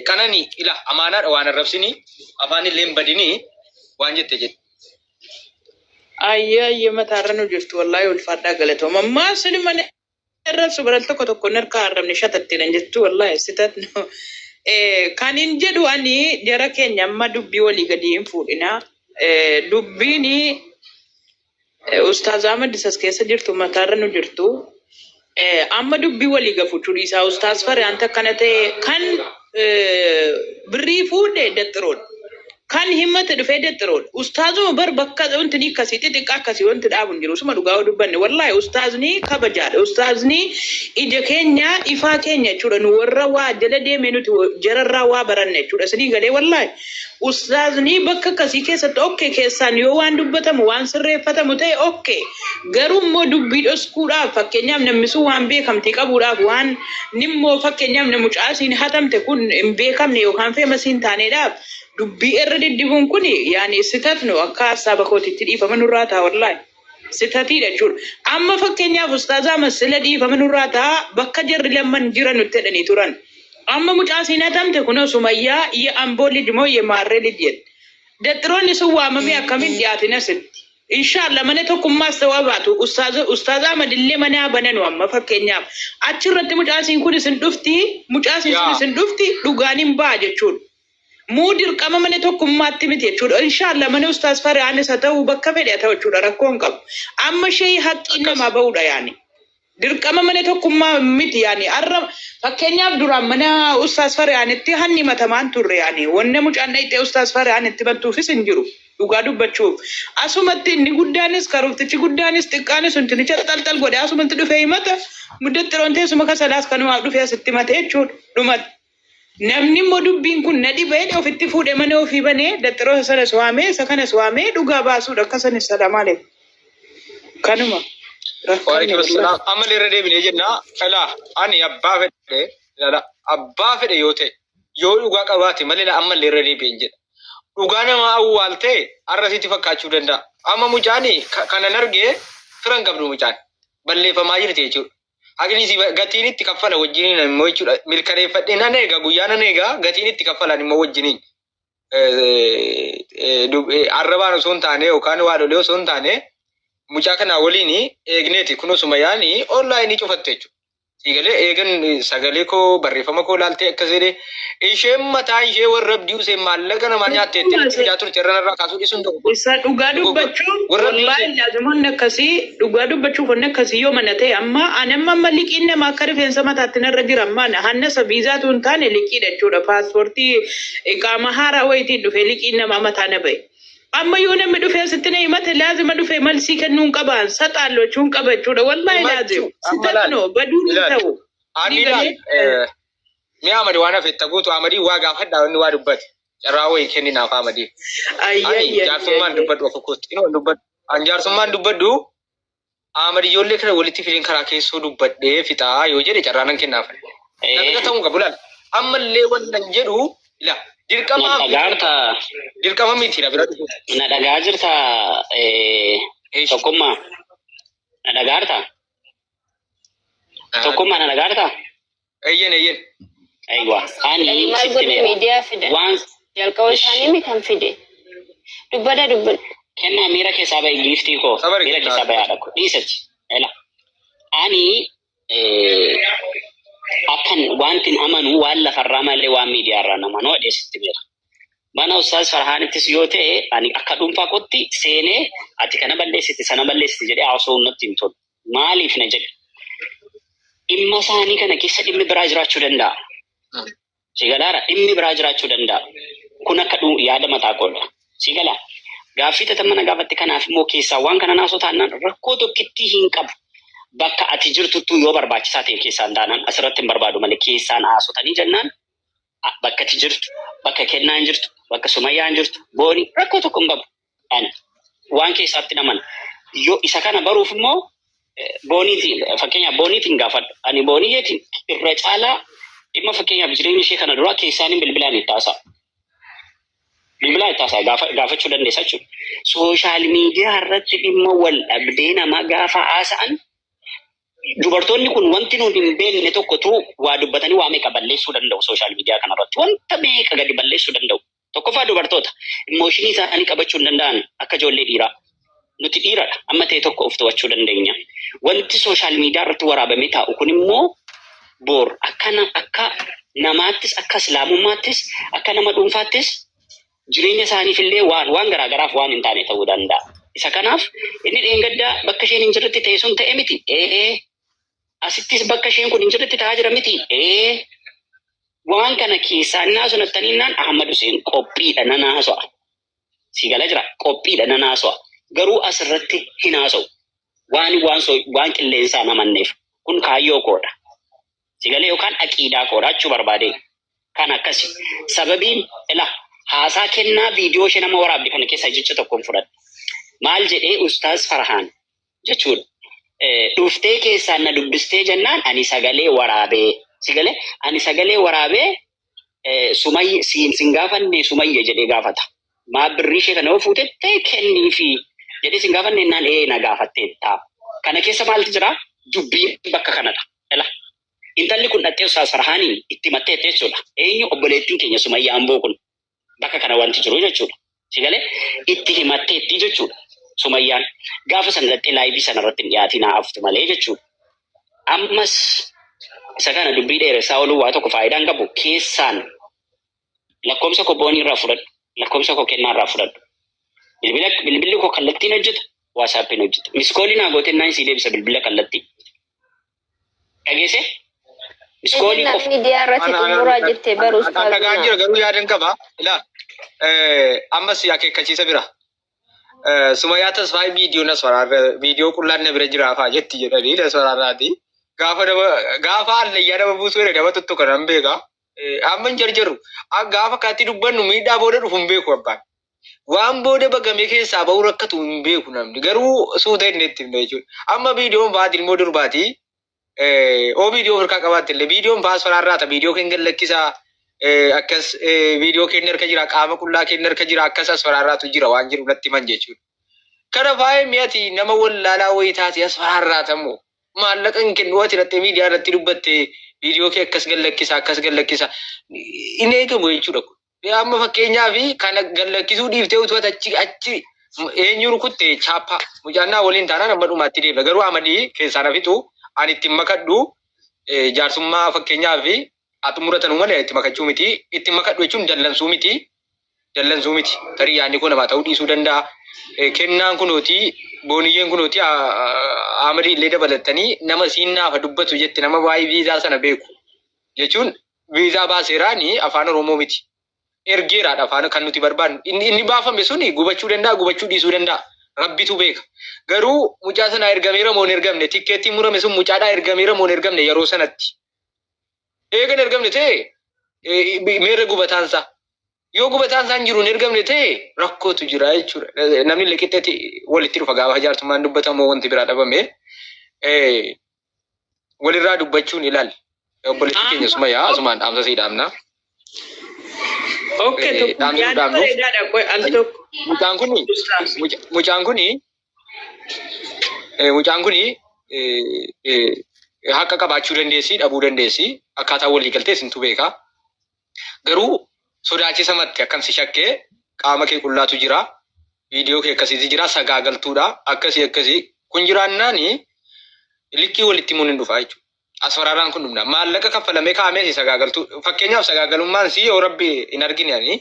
Qanani ila amaanaadha waan arrabsini afaan illee hin badini waan jette jedhe. Ayyee ayyee mataa irra nu jirtu wallaahi ulfaadhaa galatooma. Maaf sini mana arrabsu baral tokko tokko hin harkaa arrabne shatattiidhan jettu wallaahi sitat no. Eh, Kan hin jedhu ani jara keenya amma dubbii walii gadi hin fuudhina. Eh, Dubbiin Ustaaz Ahmad isas keessa jirtu mataarra nu jirtu. Eh, Amma dubbii walii gafuchuu dhiisaa Ustaaz Fare anta akkana ta'e kan eh, birrii fuudhe daxxiroodha. Kan himmate dhufee daxxiroodha. Ustaazuma bar bakka wanti ni akkasii xixiqqaa akkasii wanti dhaabu hin jiru. Suma dhugaa yoo dubbanne wallaahi ustaazni kabajaadha. Ustaazni ija keenya ifaa keenya jechuudha. Nu warra waa jala deemee nuti wa- jararraa waa baranne jechuudha. Isinii galee wallaahi. Ustaaznii bakka akkasii keessatti okke keessaan yoo waan dubbatamu waan sirreeffatamu ta'e okke garuu immoo dubbii dhoskuudhaaf fakkeenyaaf namni sun waan beekamtii qabuudhaaf waan nimmoo fakkeenyaaf na mucaasiin hatamte kun hin beekamne yookaan feemasiin taaneedhaaf dubbii irra deddibuun kun yaani sitat nu akka hassaaba kootitti dhiifama nurraa taa wallaahi. Sitatiidha jechuudha. Amma fakkeenyaaf ustaazaa masila dhiifama nurraa ta'a bakka jarri lamman jira nutti jedhanii turan. Amma mucaa siin hatamte kunoo sumayyaa ye amboo lij moo ye maarree lij jedhe. Daxiroonni sun waamamee akkamiin dhiyaatin asitti. Inshaallah mana tokkummaas ta'uu abaatu ustaaza ustaazaa madillee manaa bananu amma fakkeenyaaf achirratti mucaa siin kun isin dhufti mucaa siin sun Yaa. isin dhufti dhugaan hin ba'a jechuudha. Muu dirqama malee tokkummaatti miti jechuudha. Inshaallah mana ustaas Farihaanis haa ta'u bakka fedhe haa ta'u jechuudha rakkoo hin qabu. Amma ishee haqqiin Akkas. namaa ba'uudha yaani. Dirqama malee tokkummaa miti yaani. Arra fakkeenyaaf duraan mana ustaas Farihaanitti hanni matamaan turre yaani. Wanna mucaan dhayxee ustaas Farihaan itti bantuufis hin jiru. Dhugaa dubbachuuf. Asumatti inni guddaanis karooftichi guddaanis xiqqaanis untinicha xalxal godhe asumatti dhufee himata. Muddaxiroon teessuma kasalaas kanumaaf dhufee asitti himate jechuudha. Dhumatti. Namni immoo dubbiin kun na dhiba jedhe ofitti fuudhe mana ofii banee daxxiroosa sanas waamee isa kanas waamee dhugaa baasuudha akka sanis salaamaale kanuma rakkanne Waalaikum guddaa. assalam. Amma illee irra deebinee jenna. Ilaa ani abbaa fedhe ilaala abbaa fedhe yoo ta'e yoo dhugaa qabaate malee ilaa amma illee irra deebi'een jedha. Dhugaa namaa awwaaltee har'a sitti fakkaachuu danda'a. Amma mucaan ka- kanan arge firan qabdu mucaan balleeffamaa jirti jechuudha. Haqni si gatiin itti kaffala wajjiniin immoo jechuudha. Mirkaneeffadhee nan eega guyyaa nan eega gatiin itti kaffalan immoo wajjiniin. Arrabaan osoo hin taane yookaan waadholee osoo hin taane mucaa kanaa waliin eegneeti kunoo sumayaanii onlaayinii cufatte jechuudha. Siigalee eegan sagalee koo barreeffama koo laaltee akkas jedhee Isheen mataan ishee warra abdii useen maallaqa namaa nyaatte jettee nutti fidaa turte irra narraa kaasuu dhiisuun dogoggora. Isa dhugaa Dogoggora. dubbachuu Warra abdii wallaahi useen. laazim wanni akkasii dhugaa dubbachuuf wanni akkasii yoo mana ta'e amma ani amma amma liqiin nama akka rifeensa mataatti narra jira amma ana hanna isa viizaatu hin taane liqiidha jechuudha paaspoortii iqaama haaraa wayitiin dhufee liqiin namaa mataa na ba'e. Amma yoo namni dhufee asitti na himate laazima dhufee malsii kennuu hin qabaan saxaalloo jechuun qaba jechuudha wallaahi laazim Himachuu. Amma sitatno laal. baduu hin Laal. ta'u. Ani Ni laal. galee- eh, Mee Ahmad waan hafe itti guutu Ahmadii waa gaafadhaa wanni waa dubbate. Carraa wayii kenni naaf Ahmadii. Ani jaarsummaan dubbadhu akka kootti. Inoo dubbadhu. An jaarsummaan dubbadhu Ahmad ijoollee kana walitti fideen karaa keessoo dubbadhee fixaa yoo jedhe carraa nan kennaaf. Nafixa ta'uu qabu laal. Ammallee waan nan jedhu ila dirqama Na dhagaa jirta. dirqama miti na bira dhufu. Na dhagaa jirta. eh, Eesh. Tokkummaa. Na dhagaa jirta. Tokkummaa na nagaa dha. Eeyyeen eeyyeen. Aywa. Ani Maal sitti godhe meera. miidiyaa fida. Waan Jalqaba isaanii mi kan fide. Dubbada dubbada. kennaa miira keessaa bahi giiftii koo. Sabari Miira kennaa. keessaa bahi haadha koo. Dhiisati. Ela. Ani eh, akkan wantin amanu waan lafarraa malee waan miidiyaarraa nama noo dhiyeessitti meera. Mana Ustaaz Farhaanittis yoo ta'e ani akka dhuunfaa kootti seenee ati kana balleessite sana balleessite jedhee haasawuun natti hin tolu. Maaliif na jedhe dhimma isaanii kana keessa dhimmi biraa jiraachuu danda'a. Si galaara dhimmi biraa jiraachuu danda'a. Kun akka dhuu yaada mataa koodha. Si galaa gaaffii tata mana gaafatti kanaaf immoo keessaa waan kana naasoo taanaan rakkoo tokkittii hin qabu. Bakka ati jirtuttuu yoo barbaachisaa ta'e keessaan taanaan asirratti hin barbaadu malee keessaan haasotanii jennaan bakka ati jirtu, bakka kennaan jirtu, bakka sumayyaan jirtu, booni rakkoo tokko hin qabu. Ani waan keessaatti naman yoo isa kana baruuf immoo eh, booniitiin fakkeenyaaf booniitiin gaafadhu. Ani boonii keetiin irra caalaa dhimma fakkeenyaaf jireenya ishee kana duraa keessaaniin bilbilaan itti haasa'a. Bilbilaa itti haasa'a gaafa, gaafachuu dandeessa jechuudha. Sooshaal miidiyaa irratti dhimma wal dhabdee namaa gaafa haasa'an Dubartoonni kun wanti nuti hin beekne tokkotu waa dubbatanii waa meeqa balleessuu danda'u sooshaal miidiyaa kanarratti. Wanta meeqa gadi balleessuu danda'u. Tokkoffaa dubartoota immooshinii isaanii qabachuu hin danda'an akka ijoollee dhiiraa. Nuti dhiiradha. Amma ta'e tokko of to'achuu dandeenya. Wanti sooshaal miidiyaa irratti waraabamee taa'u kun immoo boor akka, na, akka namaattis akka islaamummaattis akka nama dhuunfaattis jireenya isaaniif illee waan waan garaa garaaf waan hin taane ta'uu danda'a. Isa kanaaf inni dheengaddaa bakka isheen hin jirretti ta'e sun ta'e miti. Ee asittis bakka isheen kun hin jirretti ta'aa jira miti. Ee waan kana keessaa innaa sun attaniinnaan Ahmad Huseen qophiidha nan haasa'a. Si gala jira qophiidha nan haasa'a. Garuu asirratti hin haasa'u. Waan waan so- waan qilleensaan amanneef kun kaayyoo koodha. sigalee yookaan aqiidaa koodha jechuu barbaadee kan akkasi sababiin ila haasaa kennaa viidiyoo ishee nama waraabde kana keessaa jecha tokkoon fudhadhe maal jedhee ustaaz farhaan jechuudha Eh, dhuftee keessaan na dubbistee jennaan ani sagalee waraabee sigalee ani sagalee waraabee Sumayya siin sin gaafanne Sumayya jedhee gaafata. Maa birrii ishee kana yoo fuutettee kenniifi jedhee sin gaafanne innaan ee na gaafatteetta. Kana keessa maaltu jira? Dubbiin bakka kanadha. Ela. Intalli kun dhaxxee Ustaaz Farhaanii itti himatteetti jechuudha. Eenyu obboleettiin keenya Sumayya Amboo kun. Bakka kana wanti jiru jechuudha. Si galee itti himatteetti jechuudha. Sumayyaan gaafa sana dhattee laayivii sana irratti hin dhiyaatiin haa haftu malee jechuudha. Ammas isa kana dubbii dheeressaa ooluu waa tokko faayidaa hin qabu. Keessaan lakkoomsa koo boonii irraa fudhadhu. Lakkoomsa koo kennaa irraa fudhadhu. Bilbila bilbilli koo kallattiin hojjeta. Waasaappiin hojjeta. Miskoolii naa gootee naan sii deebisa bilbila kallattii. Dhageesse? Miskoolii Ejennaa qofa. miidiyaa irratti xumuraa jette barus Akka gahaan taa'u. jira garuu yaadan qaba. Ilaa ammas akeekkachiisa bira. Sumayyaa tasfaayii viidiyoo nas waraabee viidiyoo qullaan na bira jira fa'aa jetti jedhanii nas waraabaati. Gaafa nama gaafa hallayyaa nama buusuu jedhe nama tuttu kana hin beeka. Amma hin jarjaru. Gaafa kaatti dubbannu miidhaa booda dhufu hin beeku abbaan. Waan booda bagamee keessaa bahuu rakkatu hin beeku namni. Garuu suuta inni itti himna jechuudha. Amma viidiyoon baati ilmoo durbaati. Oo viidiyoo ofirkaa qabaatte illee viidiyoon baas faraarraata viidiyoo keenya gad lakkisa. Akkas viidiyoo keenya harka jira qaama qullaa keenya harka jira akkas as faraarraatu jira waan jiru natti himan jechuudha. Kana faayee mi'ati nama wallaalaa wayii taate as faraarraatamu. Maallaqa hin kennu ati dhattee miidiyaa irratti dubbatte viidiyoo kee akkas gad lakkisa akkas gad lakkisa hin eegamu jechuudha kun. Mee amma fakkeenyaaf kana gallakkisuu dhiiftee utuu ati achi achi eenyu rukutte chaappaa mucaannaa waliin taanaan amma dhumaatti deemna garuu amalii keessaan hafitu ani ittiin makadhu eh, jaarsummaa fakkeenyaaf haa xumuratan malee itti makachuu miti itti makadhu jechuun dallansuu miti dallansuu miti tarii yaadni koo namaa ta'uu dhiisuu danda'a Eh, kennaan kunooti booniyyeen kunooti aa- aa- amalii illee dabalatanii nama siin naafa dubbatu jette nama waa'ee viizaa sana beeku jechuun Viizaa baaseera ni afaan Oromoo miti. Ergeeraadha afaan kan nuti barbaannu. Inni, inni baafame suni gubachuu danda'a, gubachuu dhiisuu danda'a. Rabbitu beeka. Garuu mucaa sanaa ergameera moo hin ergamne? Tikkeettiin murame sun mucaadhaa ergameera moo hin ergamne yeroo sanatti? Eega hin ergamne ta'e eh, meerre gubataan isaa? Yoo gubataan isaa hin jiru hin ergamne ta'e rakkootu jira jechuudha. Eh, Namni illee qixxeetti walitti dhufa gaafa jaartummaan dubbatamu wanti biraa dhabame. Eh, walirraa dubbachuun ilaal. Obboleettii keenya suma yaa asumaan dhaamsa sii dhaamna. Okay, Eh, tokko dhaamsa yaada dhaamnuuf. bareedaadha. Qoy, al tokko. Mucaan kuni muca- mucaan kuni eh, mucaan kuni eh, eh, haqa qabaachuu dandeessi dhabuu dandeessi akkaataa walii galtee isintu beeka. Garuu sodaachisa matti akkan si shakke qaama kee qullaatu jira viidiyoo kee akkasiiti jira sagaagaltuudha akkasii akkasii kun jiraannaani likkii walitti himuun hin dhufa jechuudha. Asfaraaraan kun dhumna maallaqa kaffalamee kaa'amee si sagaagaltuu fakkeenyaaf sagaagalummaan si yoo rabbi hin argine ani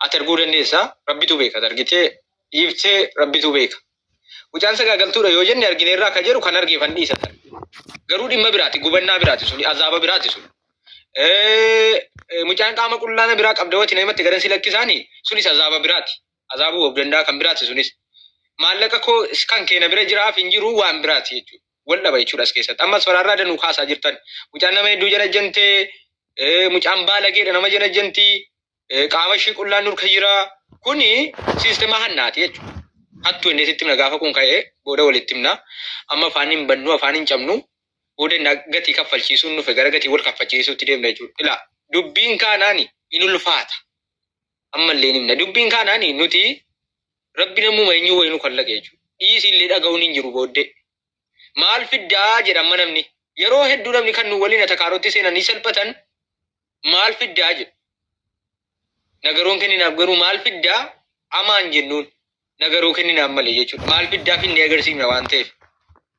ati arguu dandeessa rabbitu beeka ati argitee dhiiftee rabbitu beeka Mucaan sagaagaltuudha yoo jenne argineerraa ka jedhu kan argeef an dhiisa ta'a. Garuu dhimma biraati, gubannaa biraati suni, azaaba biraati suni. Eh, eh, Mucaan qaama qullaana biraa qabda wati namatti gadan si lakkisaani sunis azaaba biraati. Azaabuu of danda'a kan biraati sunis. Maallaqa koo is- kan keena bira jiraaf hin jiru waan biraati jechuudha. Wal dhaba jechuudha as keessatti. Ammas faraarraa danuu kaasaa jirtan. Mucaan nama hedduu janajjantee, eh, mucaan baalageedha nama janajjantii. qaama ishii qullaan nurka jira. Kuni siistema hannaati jechuudha. Hattu inni sitti himna gaafa kun ka'ee booda walitti himna. Amma afaan hin bannu afaan hin cabnu booda inni gatii kaffalchiisuun nufe gara gatii wal kaffalchiisuutti deemna jechuudha. Ilaa dubbiin kaanaani in ulfaata. Ammallee himna dubbiin kaanaani nuti rabbi namuma eenyuu wayii nu kallaqe jechuudha. Dhiisi illee dhaga'uun hin jiru booddee. Maal fiddaa jedha amma namni. Yeroo hedduu namni kan nu waliin atakaarotti seenanii salphatan maal fiddaa jedhu nagaroon kenninaaf garuu maal fiddaa amaan jennuun nagaroo kenninaaf malee jechuudha maal fiddaa finnee agarsiifna waan ta'eef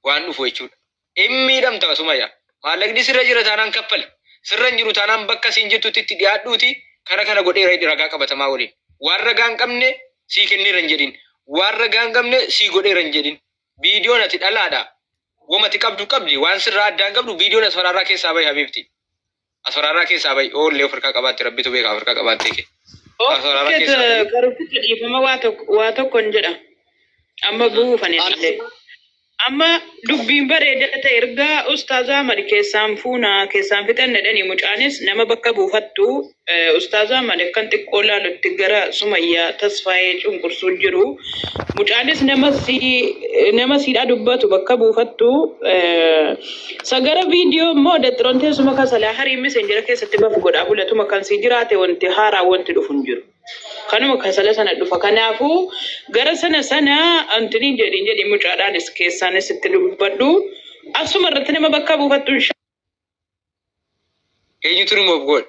waan dhufu jechuudha hin miidhamta sumayyaa maallaqni sirra jira taanaan kaffali sirra hin jiru taanaan bakka siin jirtutti itti dhiyaadhuuti kana kana godheera jedhi ragaa qabatamaa waliin waan ragaa hin qabne sii kenneera hin jedhin waan ragaa hin qabne sii godheera hin jedhin viidiyoon ati dhalaadha wamati qabdu qabdi waan sirraa addaan qabdu viidiyoon asfaraarraa keessaa bahi habiibti Aswaraarraa keessaa bahi. Oo illee of harkaa qabaatte rabbitu beeka of harkaa qabaattee kee. Aswaraarraa Okkee keessaa bahi. karuficha dhiifama waa tokko waa tokkon jedha. Amma buufan illee. Amma dubbiin bareeda ta'e ergaa ustaazaa Ahmad keessaan fuuna keessaan fixan jedhanii mucaanis nama bakka buufattu eh, ustaazaa Ahmad akkan xiqqoo laalutti gara Sumayyaa tasfaayee cunqursuu jiru. Mucaanis nama si nama siidhaa dubbatu bakka buufattu eh, Sagara video immoo daxiron teessuma kan salaa harii messenger keessatti baf godhaa bulatuma kan sii jiraate wanti haaraa wanti dhufu hin jiru. Kanuma kan sala sana dhufa kanaafu gara sana sana antini jedhin jedhi mucaadhaanis keessaanis itti dubbadhu asuma irratti nama bakka buufattu hin Eenyutu remove godha?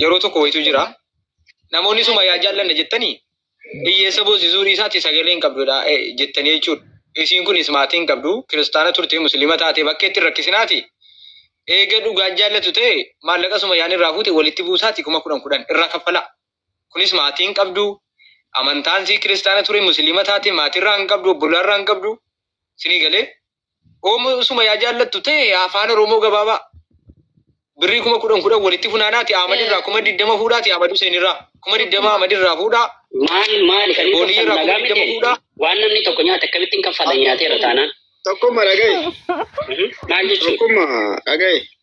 yeroo tokko wayitu jira. Namoonni suma yaa jaallanne jettanii hiyyeessa boosisuu dhiisaatti sagalee hin qabdudha eh, jettanii jechuudha. Isiin kunis maatii hin qabdu, kiristaana turte, musliima taate bakka itti hin rakkisinaati. Eega dhugaan jaallatu ta'e maallaqa suma yaan irraa fuute walitti buusaati kuma kudhan kudhan irraa kaffalaa. Kunis maatii hin qabdu, amantaan sii kiristaana ture, musliima taate maatii irraa hin qabdu, obbolaa irraa hin qabdu. Sinii galee Oomoo usuma yaa jaallattu ta'e afaan Oromoo gabaabaa birrii kuma kudhan kudhan walitti funaanaati Ahmad irraa kuma digdama fuudhaati Ahmad Hussein irraa kuma digdama Ahmad irraa fuudhaa Maal maali kan inni Boonii kaffalu irraa nagaa kuma digdama miti? fuudhaa. Waan namni tokko nyaate akkamittiin kaffala nyaateera taanaan? Tokkummaa dhagaye. Mhm. Maal jechuudha? Tokkummaa dhagaye.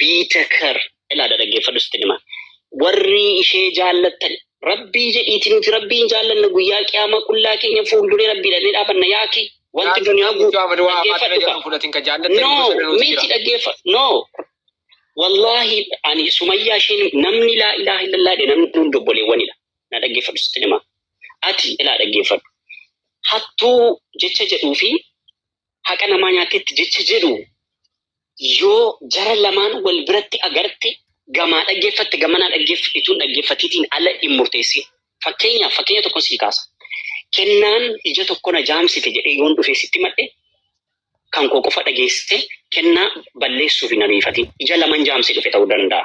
biitakar ilaada dhaggeeffadhu sitti hima warri ishee jaallattan rabbii jedhiiti nuti rabbii hin jaallanna guyyaa qiyaamaa qullaa keenya fuulduree rabbii dhannee dhaabanna yaaki wanti duniyaa guutuu dhaggeeffadhu kaa no miti dhaggeeffa no wallahi ani sumayyaa isheen namni laa ilaaha illallaa jedhe namni hundi obboleewwanidha na dhaggeeffadhu sitti hima ati ilaa dhaggeeffadhu hattuu jecha jedhuu fi haqa namaa nyaatteetti jecha jedhu yoo jara lamaan wal biratti agarte gamaa dhaggeeffatte gamanaa dhaggeeffatte ituun dhaggeeffatiitiin ala hin murteessin. Fakkeenyaaf fakkeenya tokko sii kaasa. Kennaan ija tokko na jaamsite jedhee yoon dhufee sitti madhe kan koo qofa dhageessite kennaa balleessuuf hin ariifatin. Ija laman jaamsee dhufe ta'uu danda'a.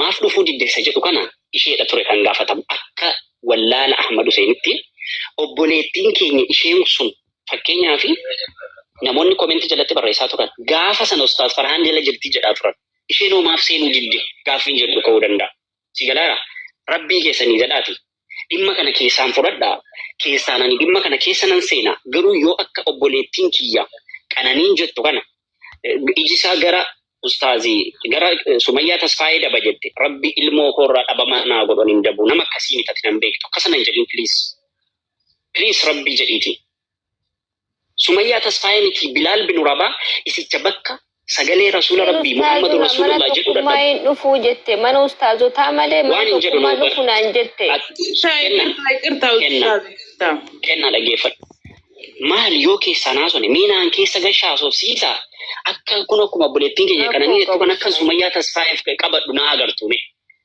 Maaf dhufuu didde isa jedhu kana isheedha ture kan gaafatamu. Akka wallaala Ahmad Huseenitti obboleettiin keenya isheen sun fakkeenyaaf namoonni komentii jalatti barreessaa turan gaafa sana Ustaaz Farhaan jala jirti jedhaa turan. Isheen hoo maaf seenuu didde gaaffiin jedhu ka'uu danda'a. Si galaara? Rabbii keessanii jedhaati Dhimma kana keessaan fudhadhaa, keessaan ani dhimma kana keessa nan seena, garuu yoo akka obboleettiin kiyya Qananiin jettu kana iji isaa gara ustaazi gara Sumayyaa Tasfaayee daba jette rabbi ilmoo koo irraa dhabama naa godhu ani hin dabu nama akkasii miti ati nan beektu akkasa nan jedhin please please rabbii jedhiiti Sumayyaa Tasfaayee mitii Bilaal binu Rabaa isicha bakka sagalee Rasuula Yeroo Rabbii Muhammadu ustaazon mana Rasuulullah jedhu tokkummaa dhadhabu hin dhufuu jette mana ustaazotaa malee mana waan hin jedhu tokkummaa nama dhufu bar naan jette. At- Ishaa kenna iqirtaa iqirtaa kenna ustaaz iqirtaa. kenna dhageeffadhu maal yoo keessaa naasone mee naan keessa gashaa soofsiisa akka kun akkuma obboleettiin keenya Rakkoo qananii jettu qabu kan akka Sumayyaa. Sumayyaa Tasfaayeef qabadhu naa agartuume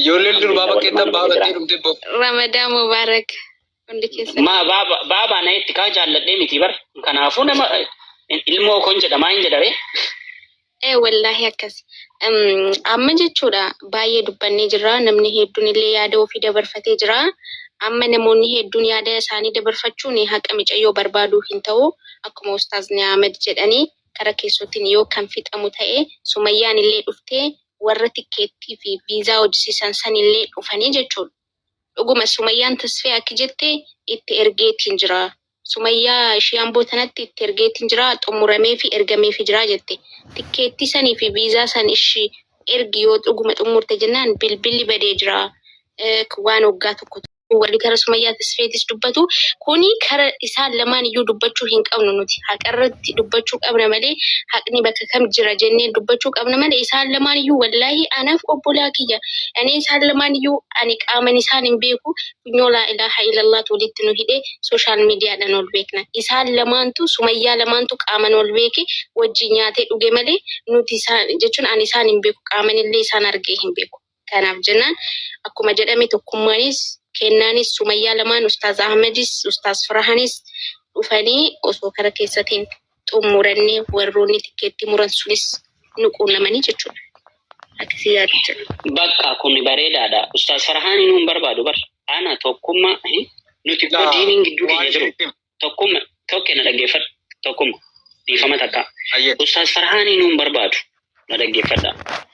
Ijoolleen durbaa bakkeetti abbaa fudhattee dhumte boo. Ramadaa Mubaarak hundi keessan. Ma baaba baaba na itti kaa jaalladhee miti bar. Kanaafuu nama ilmoo koon jedha maa hin jedhare. Ee wallaahi akkas. Em, Amma jechuudha baay'ee dubbannee jirra. Namni hedduun illee yaada ofii dabarfatee jira. Amma namoonni hedduun yaada isaanii dabarfachuun haqa micayyoo barbaaduu hin ta'u. Akkuma Ustaazni Ahmed jedhanii kara keessootiin yoo kan fixamu ta'e Sumayyaan illee dhuftee warra tikkeettii fi viizaa hojisiisan san illee dhufanii jechuudha. Dhuguma Sumayyaan Tasfee akki jette itti ergeetiin jira. Sumayyaa ishii Amboo tanatti itti ergeetiin jira xummurameefi ergameefi jira jette. Tikkeettii sanii fi viizaa san ishi ergi yoo dhuguma xummurte jennaan bilbilli badee jira waan waggaa tokko ture. wali gara sumayyaa tasfeetis dubbatu kuni kara isaan lamaan iyyuu dubbachuu hin qabnu nuti haqarratti dubbachuu qabna malee haqni bakka kam jira jennee dubbachuu qabna malee isaan lamaan iyyuu wallaahi anaaf obbolaa kiyya ani isaan lamaan iyyuu ani qaaman isaan hin beeku funyoo laa ilaaha ilallaatu walitti nu hidhee sooshaal miidiyaadhaan ol beekna isaan lamaantu sumayyaa lamaantu qaaman ol beeke wajjin nyaatee dhuge malee nuti isaan jechuun ani isaan hin beeku qaamanillee isaan argee hin beeku Kanaaf jennaan akkuma jedhame tokkummaanis kennaanis Sumayyaa lamaan Ustaaz Ahmadis Ustaaz Firahanis dhufanii osoo kara keessatti hin xummuranne warroonni tikkeettii muran sunis nu quunnamanii jechuudha. Akkasii yaadu jira. Bakka kun bareedaadha. Ustaaz Firahaan inuu hin barbaadu bar. Ana tokkummaa nuti immoo diiniin gidduu keenya jiru. Tokkumma tokke na dhaggeeffadhu. Tokkumma dhiifama takka. Hayyee. Ustaaz Farhaanii nuun barbaadu na dhaggeeffadha.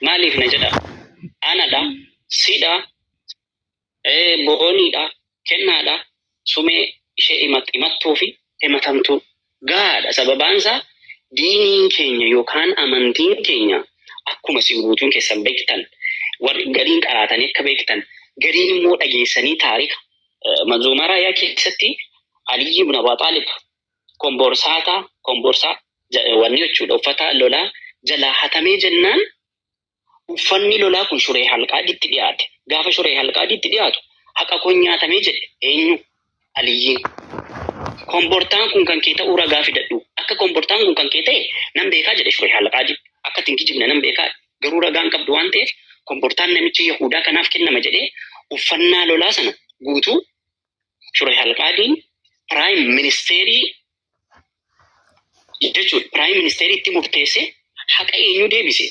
Maaliif na jedha? Anadha, sidha, ee, booniidha, kennaadha, sumee ishee himat- himattuu fi himatamtuu. Gahaadha sababaan isaa diiniin keenya yookaan amantiin keenya akkuma isin guutuun keessan beektan warri gariin qaraatanii akka beektan gariin immoo dhageessanii taarika Manzuumaa Raayaa keessatti Aliyyi ibn Abaa Xaalib komborsaataa komborsaa wanni jechuudha uffata lolaa jalaa hatamee jennaan uffanni lolaa kun shuree halqaaditti dhiyaate. Gaafa shuree halqaaditti dhiyaatu haqa kun nyaatamee jedhe eenyu Aliyyiin. Kombortaan kun kan kee ta'uu ragaa fidadhu. Akka kombortaan kun kan kee ta'e nan beekaa jedhe shuree halqaadi. Akka ittiin kijibne nan beekaa. Garuu ragaa hin qabdu waan ta'eef, kombortaan namicha Yahuudaa kanaaf kennama jedhee uffannaa lolaa sana guutuu Shurayh al-Qaadiin piraayim ministeerii jechuudha. Piraayim ministeerii itti murteessee haqa eenyuu deebise?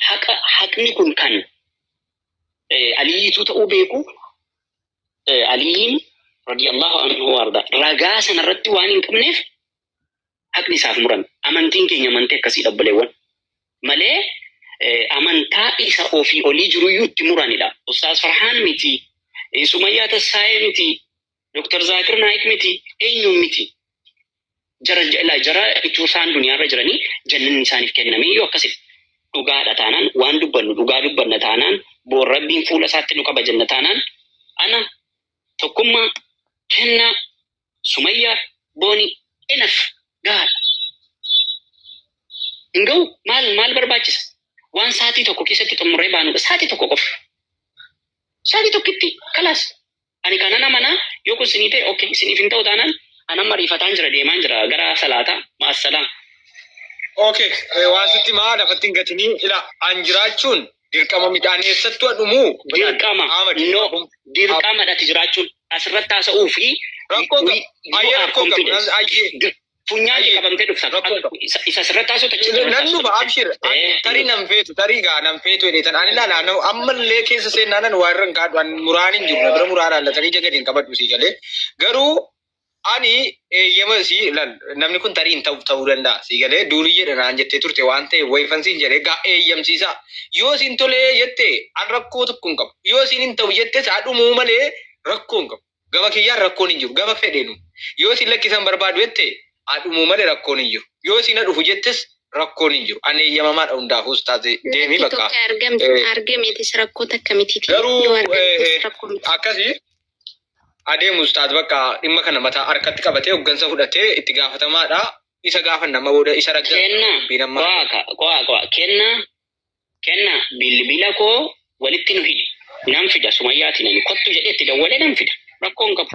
Haqa haqni kun kan eh, Aliyyiituu ta'uu beeku eh, Aliyyiin radiyallahu anhu waarda ragaa sanarratti waan hin qabneef haqni isaaf murame. Amantiin keenya amantii akkasiidha obboleewwan. Malee amantaa isa ofii olii jiruyyuu itti muranidha. Ustaaz Farhaan miti, Sumayyaa Tassaayee miti, Dr. Zaakir Naayik miti, eenyuun miti. Jara jala jara ituu isaan duniyaarra jiranii jannanni isaaniif kenname iyyuu akkasif. Dhugaadha taanaan waan dubbannu dhugaa dubbanna taanaan boor rabbiin fuula isaatti nu qaba jenna taanaan ana tokkummaa kennaa Sumayyaa boonii enaf gahaadha. Hin gahu maal maal barbaachisa? Waan saatii tokko keessatti xumurree baanudha. Saatii tokko qofa. Saatii tokkitti kalaas. Ani kanan amanaa yoo kun sinii ta'e okay siniif hin ta'u taanaan an amma riifataan jira deemaan jira gara salaataa maassalaa. Okay, eh, waan sitti maa lafatti hin gatinii ila an jiraachuun Dirqama midhaan eessattu dhumuu? Dirqama. No. Dirqama dhati jiraachuun asirratti haasa'uu fi rakkoo qabu. Ayyee rakkoo qabu. Ayyee. Funyaan qabamtee dhufta. Isa asirratti haasa'u tachi. Nan dhufa abshir. Tarii nan feetu tarii gaa nan feetu jedheetan ani laala ammallee keessa seenaanan waa irra hin kaadhu muraan hin jiru bira muraa laalla tarii jagadi hin qabadhu sii galee garuu Ani eeyyama si lal namni kun tarii hin ta'u ta'uu danda'a si galee duuriyyeedha naan jettee turte waan ta'e wayifan siin jedhe gaa eeyyamsiisa yoo siin tolee jette an rakkoo tokko hin qabu yoo siin hin ta'u jette saa dhumuu malee rakkoo hin qabu gama kiyyaan rakkoon hin jiru gama fedheenu yoo siin lakkisan barbaadu jette haa dhumuu malee rakkoon hin jiru yoo siin dhufu jettes rakkoon hin jiru an eeyyamamaadha hundaafuus taate deemii Lakki bakka tokko argamte Eh. argameetis rakkoo takka miti. Garuu, Yoo argamtes eh, eh, rakkoo miti. akkasii adeemu ustaaz bakka dhimma kana mataa harkatti qabatee hoggansa fudhatee itti gaafatamaadha isa gaafanna amma booda isa ragga kenna dubbiin amma qo'a ka- qo'a qo'a kenna kenna bilbila koo walitti nu hidhi nan fida sumayyaati nani kottu jedhee itti dawwalee nan fida rakkoon qabu